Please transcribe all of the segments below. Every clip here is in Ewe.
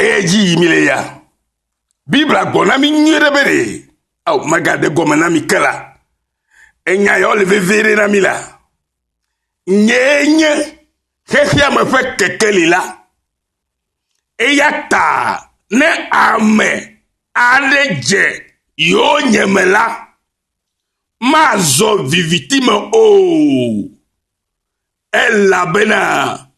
Eya dzi yi mi le ya. Biblia gblɔ na mi nyuie ɖe be ɖe ao megade gɔme na mi ke la, enya yawo le vevie ɖe na mi la. Nyee nye xexea me ƒe kekeli la. Eya ta ne ame aɖe dze yewo nye me la, mazɔ viviti me o. Elabena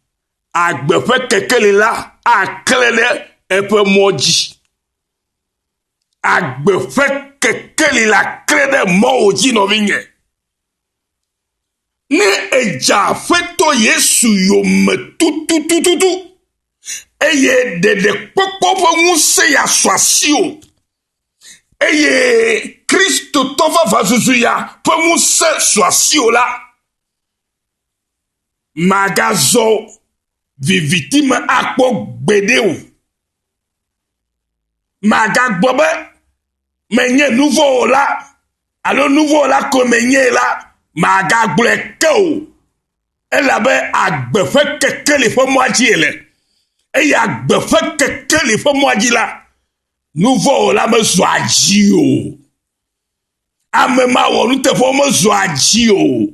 agbe ƒe kekeli la aklẽ ɖe eƒe mɔ dzi. Agbe ƒe kekeli la klẽ ɖe mɔwò dzi, nɔvinye. Ne èdze Aƒetɔ Yesu yome tututututu, eye ɖeɖekpɔkpɔ ƒe ŋusẽ ya sɔ asiwò, eye Kristotɔ vavãzuzu ya ƒe ŋusẽ sɔ asiwò la, Màgazɔ viviti me akpɔ gbeɖe o. Màgagblɔ be, Menye nuvɔ̃wɔla alo nuvɔ̃wɔla koe menye la, màgagblɔe ke o, elabe agbe ƒe kekeli ƒe mɔa dzie le. Eye agbe ƒe kekeli ƒe mɔa dzi la, nuvɔ̃wɔla mezɔa dzi o. Ame ma wɔ nuteƒewo mezɔa dzi o.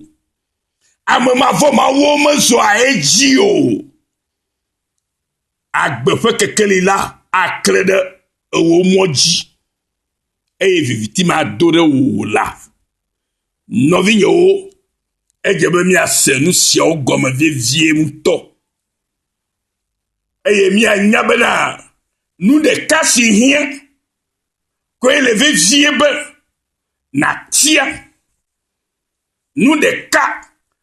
Ame ma vɔ mawuwo mezɔa edzi o. Agbe ƒe kekeli la aklẽ ɖe ewò mɔ dzi, eye viviti mado ɖe wò la. Nɔvinyewo, edze be míase nu siawo gɔme vevie ŋutɔ, eye míanya bena nu ɖeka si hiã kɔe le vevie be nàtia nu ɖeka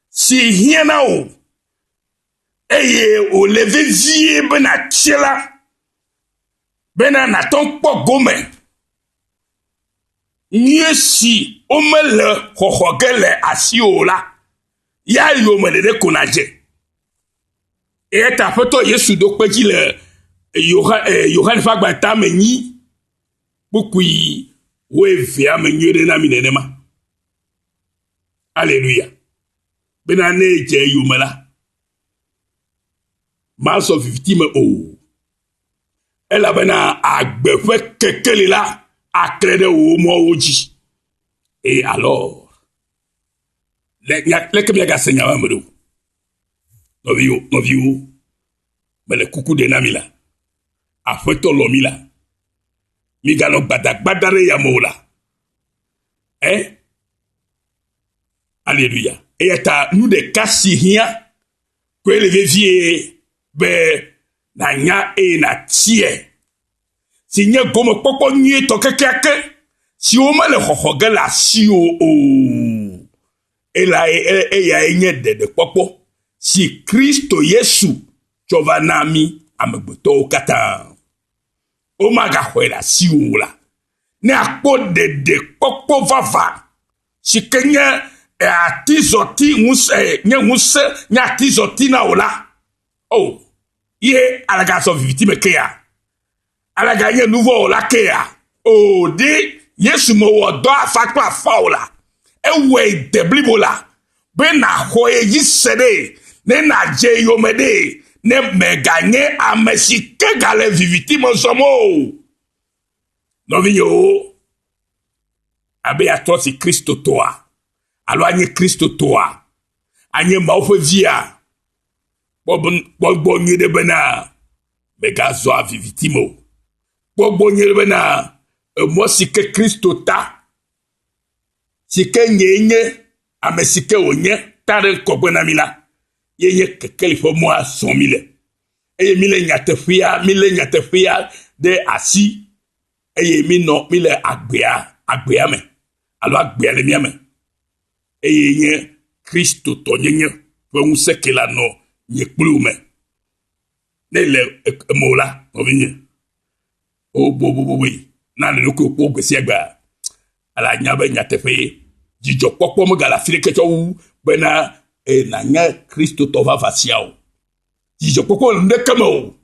si hiã na wò eye wòle vevie be nàtie la bena nàtɔ kpɔ gome nyuie si womele xɔxɔ ge le asiwò la, ya yome ɖeɖe ko nàdze. Eya ta Aƒetɔ Yesu ɖo kpe dzi le Yohane ƒe agba ta me nyi kpukpui wo evea me nyuie ɖe na mi nenema. Aleluya. Bena ne edze yome la, mazɔ viviti me o. Elabena agbe ƒe kekeli la aklẽ ɖe wò mɔwo dzi. Et alors, Le nya leke miagase nya ma me ɖo. Nɔviwo, nɔviwo, mele kuku ɖe na mi la. Aƒetɔ lɔ mi la. Miganɔ gbadagbada ɖe yame o la. Eh? Aleluya. Eya ta nu ɖeka si hiã koe le vevie be nànya eye nàtiɛ. si nye gomekpɔkpɔ nyuietɔ kekeake siwo mele xɔxɔ ge le asiwò o. Elae eyae nye ɖeɖekpɔkpɔ si Kristo Yesu tsɔ va na mí amegbetɔwo katã. Womagaxɔe le asiwò o la, ne àkpɔ ɖeɖekpɔkpɔ vavã si ke nye atizɔti ŋusẽ nye ŋusẽ nye atizɔti na wò la, O, ye alagã sɔ viviti me kea? Alagã nye nu vɔ̃ wɔla kea? O, ɖe Yesu mewɔ dɔ afã kple afã o la, ewɔe de blibo la, be nàxɔ ye dzi se ɖe, ne nàdze eyome ɖe, ne mèganye ame si ke gale viviti me zɔm o. Nɔvinyewo, abe yeatrɔ asi Kristotɔa, alo anye Kristotɔa, anye Mawu ƒe via, Kpɔ gbɔ nyuie ɖe bena megazɔ viviti me o. Kpɔ gbɔ nyuie ɖe bena emɔ si ke Kristo ta, si ke nyee nye ame si ke wònye ta ɖe ŋkɔgbe na mi la, ye nye kekeli ƒe mɔa zɔm mi le. Eye mi le nyateƒea, mi le nyateƒea ɖe asi eye mi nɔ mi le agbea, agbea me alo agbea le mia me. eye nye Kristotɔnyenye ƒe ŋusẽ ke la nɔ nye kpli wò me. Ne le eme o la, nɔvinye, o boboboboe, na le ɖokui kpɔ gbe sia gbea, ele anya be nyateƒee. Dzidzɔkpɔkpɔ megale afi ɖeke tsɔ wu bena e nànye Kristotɔ vavã sia o. Dzidzɔkpɔkpɔ le nu ɖeke me o.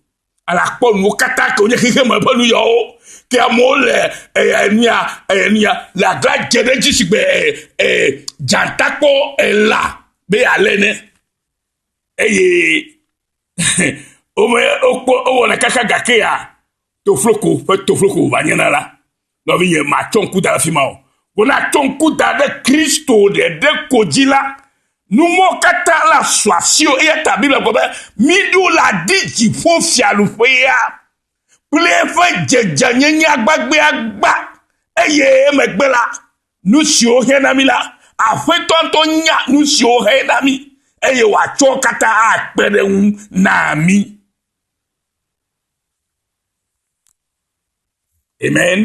Ala kpɔ nuwo katã ke wonye xexe me ƒe nuyɔwo. Ke amewo le enuya enuya le agla dze ɖe edzi sigbe dzata kpɔ ela be yealé ne. Eye wome wokpɔ wowɔna kaka gakea tofloko ƒe tofloko wòva nye na la. Nɔvinye, matsɔ ŋku da ɖe afi ma o. Wona tsɔ ŋku da ɖe Kristo ɖeɖe ko dzi la, nu mɔ katã la su asio. Eya ta Biblia gblɔ be, Miɖo le adi dziƒo fiaɖuƒea kple eƒe dzedzenyenye agbagbeagba, eye emegbe la, nu siwo xe na mí la, Aƒetɔ ŋutɔ nya nu siwo xe na mí, eye wòatsɔ wo katã akpe ɖe eŋu na mí. Amen.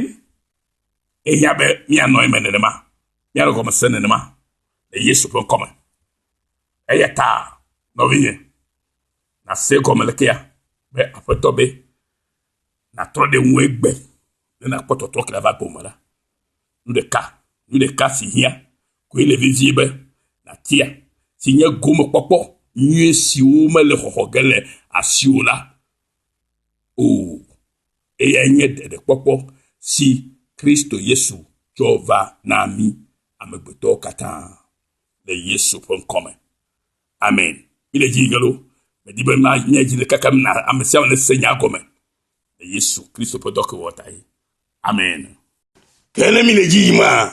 Ehiã be míanɔ eme nenema, míanɔ gɔme se nenema le Yesu ƒe ŋkɔ me. Eya ta nɔvinye, nàse gɔme le kea be aƒetɔ be nàtrɔ ɖe ŋu egbe ne nàkpɔ tɔtrɔ kele va gome la. Nu ɖeka, nu ɖeka si hiã koe le vevie be nàtia si nye gomekpɔkpɔ nyui siwo mele xɔxɔ ge le asiwò la o. Eyae nye ɖeɖekpɔkpɔ si Kristo Yesu tsɔ va na mí amegbetɔwo katã le Yesu ƒe ŋkɔ me. Amen. Mí le dzi gelo. Medi be ma nye dzi le kakem na ame sia ame ne se nya gɔme le Yesu Kristo ƒe dɔkewɔ tae. Amen. Ke ne mí le dzi yim hã,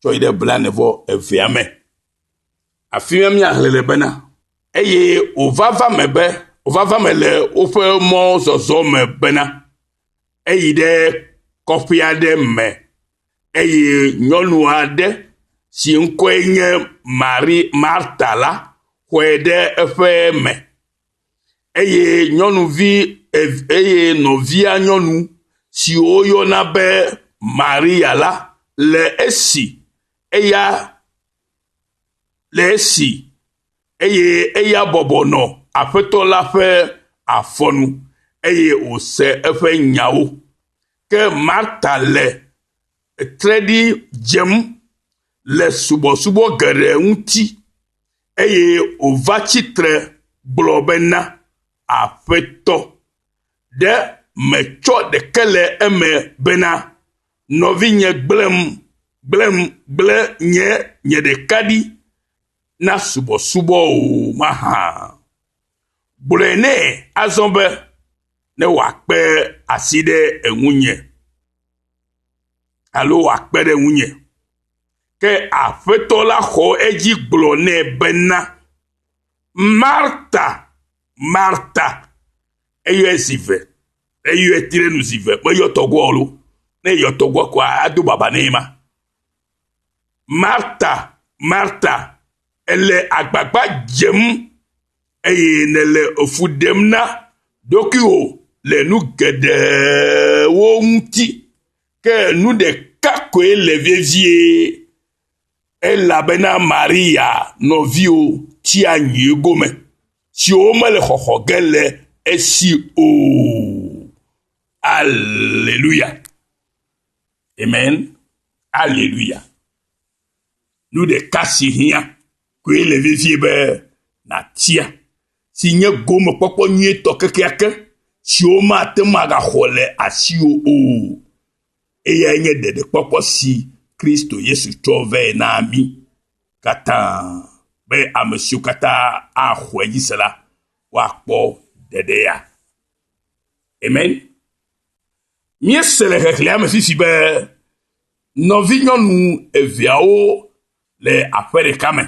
tsɔ yi ɖe blaene vɔ evea me. Afi ma míaxlẽ le bena, eye wòvava me be, wòvava me le woƒe mɔzɔzɔ me bena, eyi ɖe kɔƒe aɖe me eye nyɔnu aɖe si ŋkɔe nye Mari, Marta la xɔe ɖe eƒe me. eye nyɔnuvi ev eye nɔvia nyɔnu si woyɔna be Maria la le esi eya le esi eye eya bɔbɔ nɔ Aƒetɔ la ƒe afɔ nu eye wòse eƒe nyawo. Ke Marta le tre ɖi dzem le subɔsubɔ geɖe ŋuti Eye wòva tsi tre gblɔ bena, Aƒetɔ, ɖe mètsɔ ɖeke le eme bena, nɔvinye gblẽm, gblẽm, gblẽ nye, nye ɖeka ɖi na subɔsubɔ o mahã? Gblɔe nɛ azɔ be, ne wòakpe asi ɖe ŋunye, alo wòakpe ɖe ŋunye. Ke Aƒetɔ la xɔ edzi gblɔ nɛ bena, Marta, Marta, eyɔe zi ve, eyɔe ti ɖe nu zi ve, meyɔ tɔgbuia alo, ne eyɔ tɔgbuia koa, ado baba nɛ ma. Marta, Marta, ele agbagba dzem, eye nele efu ɖem na ɖokuiwò le nu geɖewo ŋuti. Ke nu ɖeka koe le vevie, elabena Maria nɔviwo tia nyui gome, siwo mele xɔxɔ ge le esi o. Aleluya. Amen. Aleluya. Nu ɖeka si hiã koe le vevie be nàtia, si nye gomekpɔkpɔ nyuitɔ kekeake si womate ŋu agaxɔ le asiwò o. Eyae nye ɖeɖekpɔkpɔ si Kristo Yesu tsɔ vɛ na mí katã be ame siwo katã axɔe dzi se la, woakpɔ ɖeɖe ya. Amen. Míese le xexlẽa me sisi be nɔvinyɔnu eveawo le aƒe ɖeka me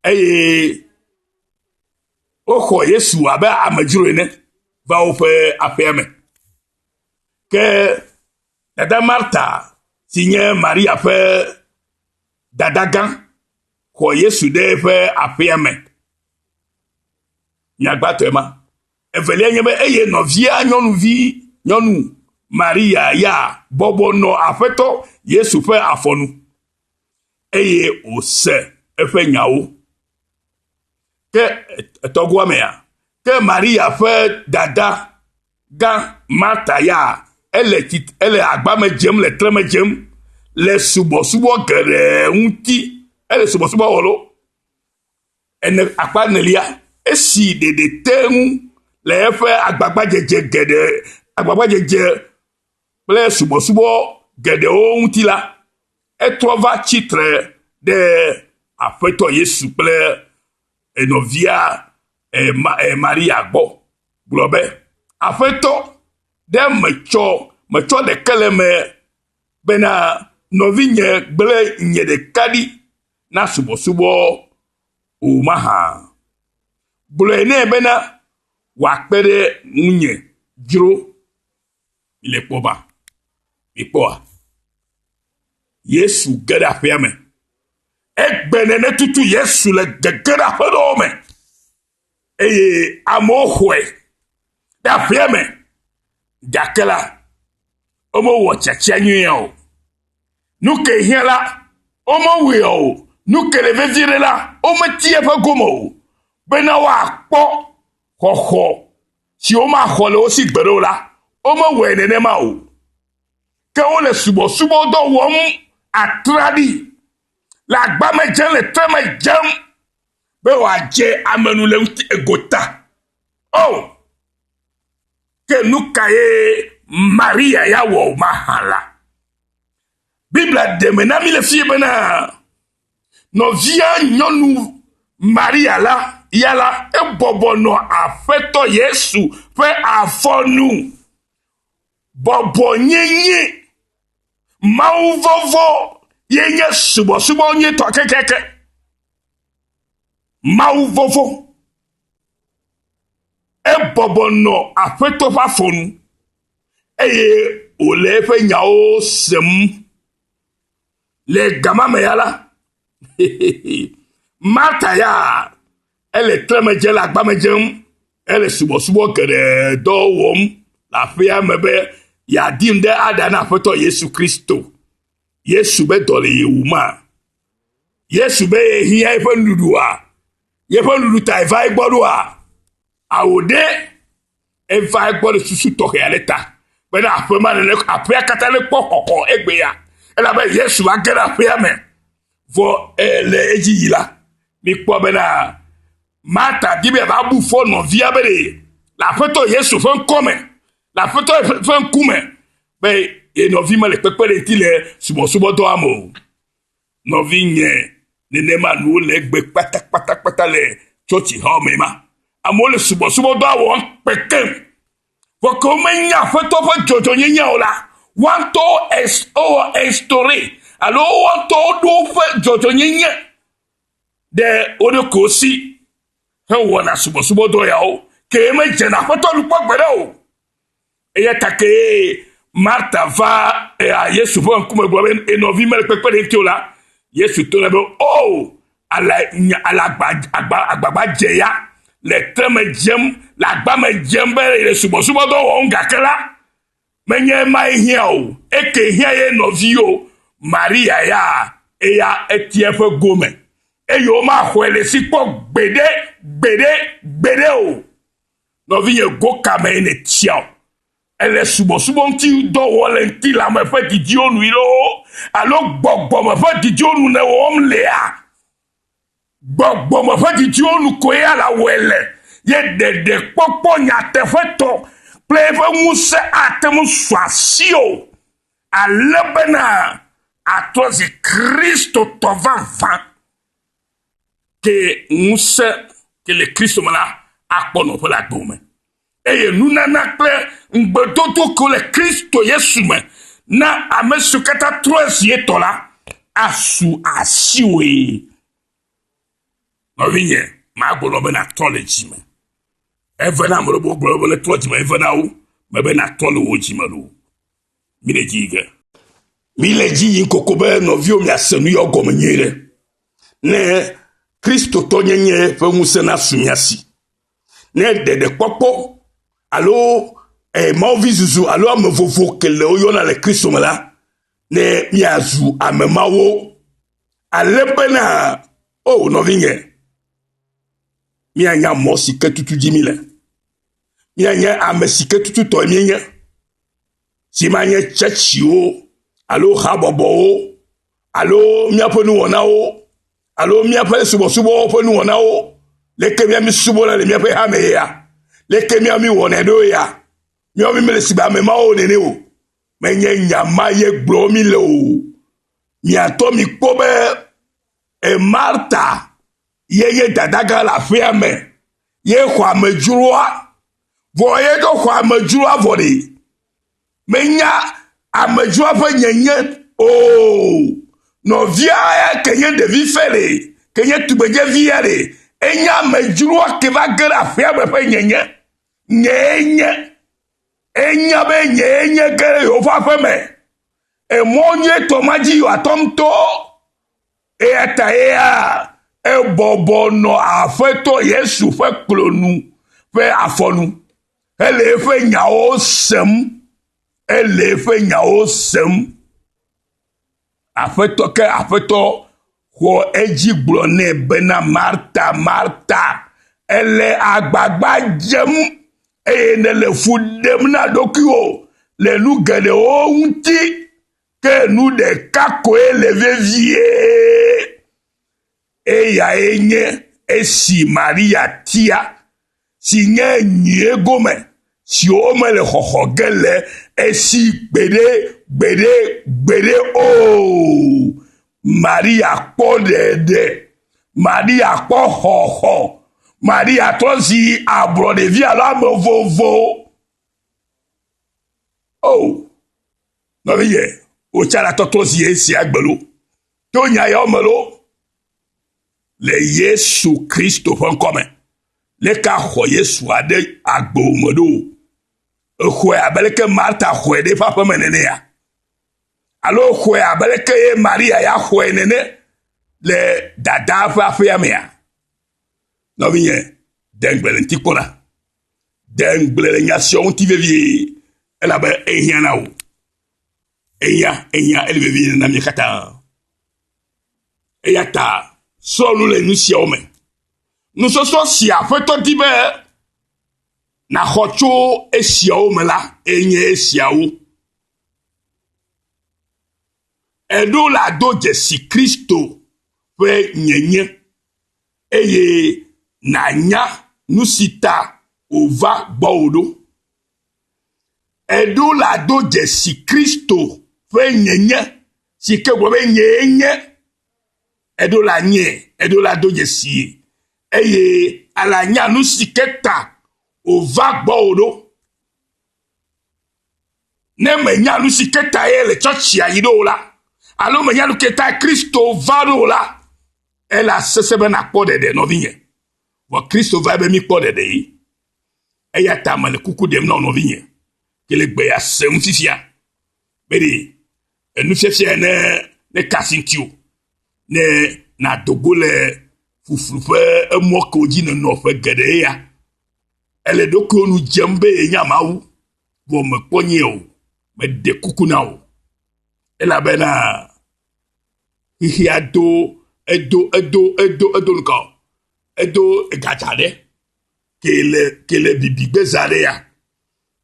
eye woxɔ Yesu abe amedzro ene va woƒe aƒea me. Ke dada Marta si nye Maria ƒe dadagã xɔ Yesu ɖe eƒe aƒea me. Nyagbatɔe ma. Evelia nye be eye nɔvia nyɔnuvi nyɔnu Maria ya bɔbɔ nɔ Aƒetɔ Yesu ƒe afɔ nu, eye wòse eƒe nyawo. Ke etɔgoa mea, ke Maria ƒe dada gã Marta ya ele, ele agbame dzem, le treme dzem le subɔsubɔ geɖe ŋuti. Ele subɔsubɔ wɔlo. Ene, akpa enelia, esi ɖeɖe te ŋu le eƒe agbagbadzedze geɖe, agbagbadzedze kple subɔsubɔ geɖewo ŋuti la, etrɔ va tsi tre ɖe Aƒetɔ Yesu kple enɔvia Maria gbɔ gblɔ be, Aƒetɔ, ɖe metsɔ, metsɔ ɖeke le eme bena nɔvinye gblẽ nye ɖeka ɖi na subɔsubɔ o mahã? Gblɔe nɛ bena, Wòakpe ɖe ŋunye dzro. Mile kpɔ ba? Mikpɔa? Yesu ge ɖe aƒea me. Egbe nènetutu Yesu le gegeɖeaƒeɖewo me. Eye amewo xɔe ɖe aƒea me, gake la, womewɔ tsatsia nyuie o. Nu ke hiã la, womewɔe o. Nu ke le vevie ɖe la, wometi eƒe gome o bena woakpɔ xɔxɔ si womaxɔ le wo si gbeɖe o la, womewɔe nenema o. Ke wole subɔsubɔdɔ wɔm atraɖii, le agbame dzem, le tre me dzem, Be wòadze ame nu le ŋuti egota. O! Ke nu ka ye Maria ya wɔ mahã la? Biblia ɖe me na mí le fie bena, Nɔvia nyɔnu Maria la ya la, ebɔbɔ nɔ Aƒetɔ Yesu ƒe afɔ nu. Bɔbɔnyenye, mawuvɔvɔ̃ ye nye subɔsubɔ nyuitɔ kekeake. Mawu vɔvɔ̃. Ebɔbɔ nɔ Aƒetɔ ƒe afɔ nu, eye wòle eƒe nyawo sem. Le gama me ya la, Marta ya ele tremedze le agbame dzem ele subɔsubɔ geɖe dɔ wɔm le aƒea me be yeadi ŋɖe aɖa na Aƒetɔ Yesu Kristo. Yesu be dɔ le yewuma. Yesu be yehiã eƒe nuɖuɖua, yeƒe nuɖuɖu ta eva egbɔ ɖoa? Ao ɖe, eva egbɔ le susu tɔxɛ aɖe ta bena aƒe ma ne aƒea katã ne kpɔ xɔxɔ egbea, elabe Yesu va ge ɖe aƒea me. Vɔ le edzi yi la, mikpɔ bena Marta di be va bu fɔ nɔvia be le Aƒetɔ Yesu ƒe ŋkɔ me, le Aƒetɔ ƒe ŋkume be ye nɔvi mele kpekpe ɖe ŋuti le subɔsubɔdɔa me o. Nɔvinye, nenema nu wole egbe kpatakpatakpata le tsɔtsi hã me ma. Amewo le subɔsubɔdɔa wɔm kpekpem. Vɔ ke womenya Aƒetɔ ƒe dzɔdzɔnyenye o la, woa ŋutɔwo wowɔ estoure alo woa ŋutɔwo ɖo woƒe dzɔdzɔnyenye ɖe wo ɖokuiwo si hewɔna subɔsubɔdɔ yawo, ke medzena Aƒetɔ nu kpɔ gbeɖe o. Eya ta kee Marta va ea Yesu ƒe ŋkume gblɔ be enɔvi mele kpekpe ɖe ŋuti o la, Yesu to nɛ be, O, oh, ale, ale agba, agba, agbagba dze ya, le tre me dzem, le agba me dzem be le subɔsubɔdɔ wɔm gake la, menye emae hiã o, eke hiã ye nɔvi o, Maria ya, eya etia eƒe gome, eye womaxɔe le si kpɔ gbeɖe, gbeɖe, gbeɖe o. Nɔvinye go kame ye nètiaɔ? Èle subɔsubɔ ŋuti dɔ wɔ le ŋutilãme ƒe didiwo nui loo alo gbɔgbɔme ƒe didiwo nu nèwɔm lea? Gbɔgbɔme ƒe didiwo nu koe ya la wɔe le, ye ɖeɖekpɔkpɔ nyateƒetɔ kple eƒe ŋusẽ ate ŋu su asiwò ale bena àtrɔ zi Kristotɔ vavã. ke ŋusẽ ke le Kristo me la akpɔ nɔƒe le agbe me. Eye nunana kple ŋugbedodo ke le Kristo Yesu me na ame siwo katã trɔa zi etɔ la asu asiwòe. Nɔvinye, magblɔ be nàtrɔ le dzi me. Eve na ame ɖewo gblɔ be netrɔ dzi me, eve na wo mebe natrɔ le wò dzi me loo. Mile dzi yi ge. Mile dzi yi koko be nɔviwo miase nu yɔ gɔme nyuie ɖe. Ne Kristotɔ nyenye ƒe ŋusẽ nasu mia si. Ne ɖeɖekpɔkpɔ alo eh, mawuvi zuzu alo ame vovo ke le woyɔna le Kristo me la, ne miazu ame mawo. Ale bena, o oh, nɔvinye, mianya mɔ si ke tutu dzi mi le. Míenye ame si ke tututɔe míenye, si manye tsetsiwo alo habɔbɔwo alo míaƒe nuwɔnawo alo míaƒe subɔsubɔwo ƒe nuwɔnawo. Leke mía mísubɔna le míaƒe hame ya? Leke mía míwɔnɛ ɖo ya? Míawo mi mele sigbe ame mawo nene o. Menye nya ma ye gblɔ mi le o. Miatɔ mi kpɔ be e Marta ye ye dadagã le aƒea me ye xɔ amedzroa vɔ ye ɖo xɔ amedzroa vɔ ɖi menya amedzroa ƒe nyenye o nɔvia ya ke nye ɖevi fɛ ɖi ke nye tugbedze vi ya ɖi enya amedzroa ke va ge ɖe aƒea me ƒe nyenye nyee nye enya be nyee nye ge ɖe yewoƒe aƒe me emɔ nyuitɔ ma dzi yewoatɔ ŋutɔ Eya tae ebɔbɔ nɔ Aƒetɔ Yesu ƒe klo nu ƒe afɔ nu hele eƒe nyawo sem. Ele eƒe nyawo sem. Aƒetɔ ke Aƒetɔ xɔ edzi gblɔ nɛ bena Marta, Marta, ele agbagba dzem eye nèle fu ɖem na ɖokuiwò le nu geɖewo ŋuti. Ke nu ɖeka koe le vevie, eyae nye esi Maria tia, si nye nyui gome siwo mele xɔxɔ ge le esi gbeɖe, gbeɖe, gbeɖe o. Maria kpɔ ɖeɖe. Maria kpɔ xɔxɔ. Maria trɔ zi ablɔɖevi alo ame vovo. O, oh, Nɔvinyɛ, wò tsɛ la tɔtrɔ zi yɛ sia gbe loo? To nya yawo me loo? Le Yesu Kristo ƒe ŋkɔ me, leke axɔ Yesu aɖe agbe o me ɖo? Exɔɛ abe leke Marta xɔɛ ɖe eƒe aƒe me nenea? Alo exɔɛ abe leke ye Maria ya xɔɛ nene le Dadaa ƒe aƒea mea? Nɔvinyɛ, de ŋugble le ŋuti kpɔna. De ŋugble le nya sia ŋuti vevie, elabe ehiã na wò. Ehiã, ehiã, ele vevie na mí katã. Eya ta srɔ̃ nu le nu siawo me. Nusɔsrɔ̃ si Aƒetɔ di be nàxɔ tso esiawo me la enye esiawo. Eɖo la do dzesi Kristo ƒe nyenye. Eye nànya nu si ta wòva gbɔwò ɖo. Eɖo le ado dzesi Kristo ƒe nyenye, si ke gblɔ be nyee nye. Eɖo le anyie, eɖo le ado dzesie, eye alanya nu si ke ta wòva gbɔwò ɖo. Ne mènya nu si ke tae le tsɔtsia yi ɖo o la, alo mènya nu ke tae Kristo va ɖo o la, ele asese be nàkpɔ ɖeɖe, nɔvinye. Vɔ Kristo vae be míkpɔ ɖeɖee. Eya ta mele kuku ɖem na wò nɔvinye, ke le gbe ya se ŋu fifia, be ɖe enufiafia ya ne neka asi ŋutiwò, ne nàdo go le ƒuƒlu ƒe emɔ kewo dzi nènɔ ƒe geɖe ya Ele ɖokuiwo nu dzem be yenya Mawu, vɔ mekpɔ nyɛ o. Meɖe kuku na wò. Elabena xexea do edo edo edo edo nukɔ edo egadza ɖe ke le ke le bibi gbeza ɖe ya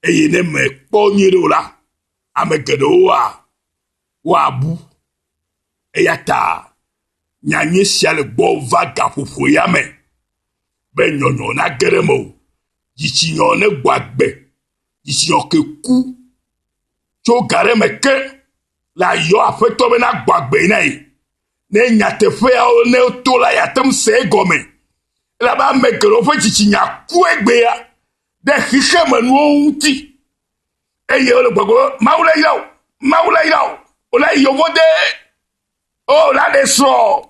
eye ne mekpɔ nyuie ɖe o la ame geɖewo wa Woabu. Eya ta nyanyui sia le gbɔ va gaƒoƒo ya me be nyɔnyɔ nage ɖe me o. Dzitsinyɔ negbɔ agbe. Dzitsinyɔ ke ku tso ga ɖe me ke la yɔ aƒetɔ be nagbɔ agbe na ye. Ne nyateƒeawo ne to la yate ŋu se egɔme. Elabe ame geɖewo ƒe dzitsinya ku egbea ɖe xexemenuwo ŋuti. eye wole gbɔgblɔ be mawu le yɔ mawu le yɔ wòle yevo de o oh, wòle aɖe srɔ̃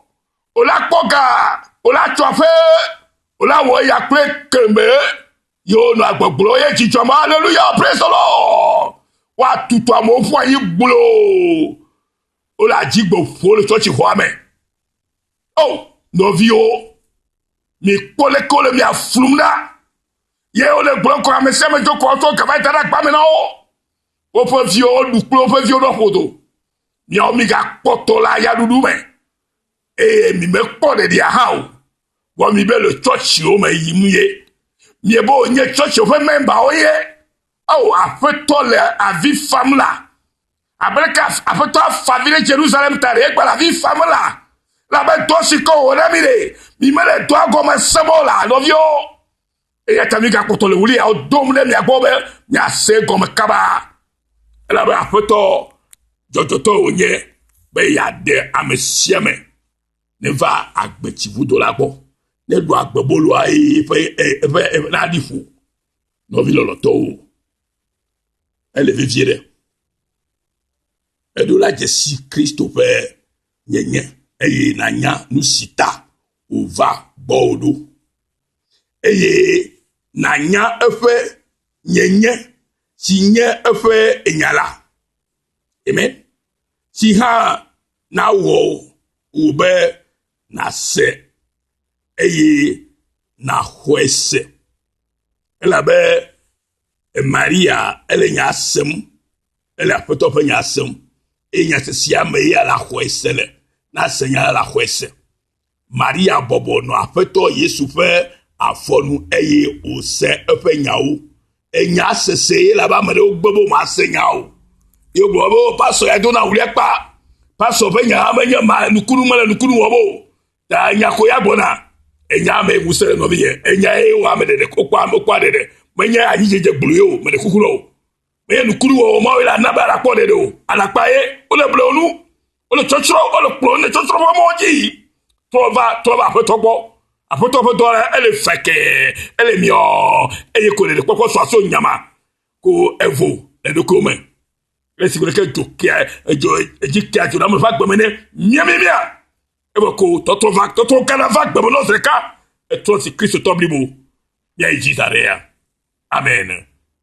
wòle akpɔ ga wòle atsɔ aƒe wòle awɔ eya kple kemɛ yewo nɔ agbɔgblɔ ye dzidzɔ ma aleluya praise the lord woatutu amewo ƒu anyi gblo wole adzigbɔ ƒo le tsɔtsi xɔa me o oh, nɔviwo mikpɔ leke wole mia flum na. ye wole gblɔ kɔ ame sia ame tso kɔ tso gaba da ɖe akpa me na wo woƒe viwo woɖu kple woƒe viwo ɖɔ ƒodo miawo migakpɔ to la ya ɖuɖu me eye mimekpɔ ɖeɖia hã o vɔ mi be le tsɔtsiwo me yim ye miebe wonye tsɔtsiwo ƒe mɛmbawo ye ao aƒetɔ le avi fam la abereka aƒetɔ afa vi ɖe jerusalem ta ɖe egbe le avi fam la labe dɔ si kɔ wɔ na mi ɖe mi mele dɔa gɔme se mɔ la nɔviwo Eya ta migakpɔtɔ le wuliawo dom ɖe mia gbɔ be miase gɔme kaba, elabe Aƒetɔ dzɔdzɔtɔ wònye be yeaɖe ame sia ame neva agbetsivudo la gbɔ, neɖu agbeboloa eye eƒe eƒe eƒe naɖi ƒo nɔvi lɔlɔtɔwo. Ele vevie ɖe. Eɖo la dzesi Kristo ƒe nyenye eye nanya nu si ta wòva gbɔwò ɖo. eye nànya eƒe nyenye si nye eƒe nya la. Amen. Si hã nawɔ wò be nàse eye nàxɔe se. Elabe Maria ele nya sem, ele aƒetɔ ƒe nya sem, eye nya se sia me ya la xɔe se le, nase nya la xɔe se. Maria bɔbɔ nɔ Aƒetɔ Yesu ƒe afɔ nu eye wòse eƒe nyawo. Enya sese ye labe ame ɖewo gbe be womase nya o. Ye wogblɔ be, oh, pastɔ ya dona ŋu ɖe kpa. Pastɔ ƒe nya hã menye ma, nukunu mele nukunu wɔm o. Ta enya ko ya gbɔna. Enya me ŋusẽ le nɔvi ye. Enya ye wɔ ame ɖeɖe, wokpɔ ame, wokpɔ ɖeɖe. Menye anyidzedze gblu ye o, meɖe kuku na o. Menye nukunu wɔwɔ mawo ye la na be alakpɔ ɖeɖe o. Alakpa ye, wole blewo nu. wole tsɔtsrɔ wole kplɔ wole tsɔtsrɔ ƒe mɔ dzi trɔ va trɔ va aƒetɔ gbɔ aƒetɔ ƒe dɔ la ele fɛkɛ ele miɔ eye ko le kpɔkpɔ sɔ aso nyama ko evo le ɖokuiwo me le si wòle ke dzo kia edzo edzi kia dzo na me va gbeme ne miamiamia ebe ko tɔtrɔ va tɔtrɔ gana va gbeme nɔ zi ɖeka etrɔ si kristotɔ blibo miayi dzi da ɖe ya amen.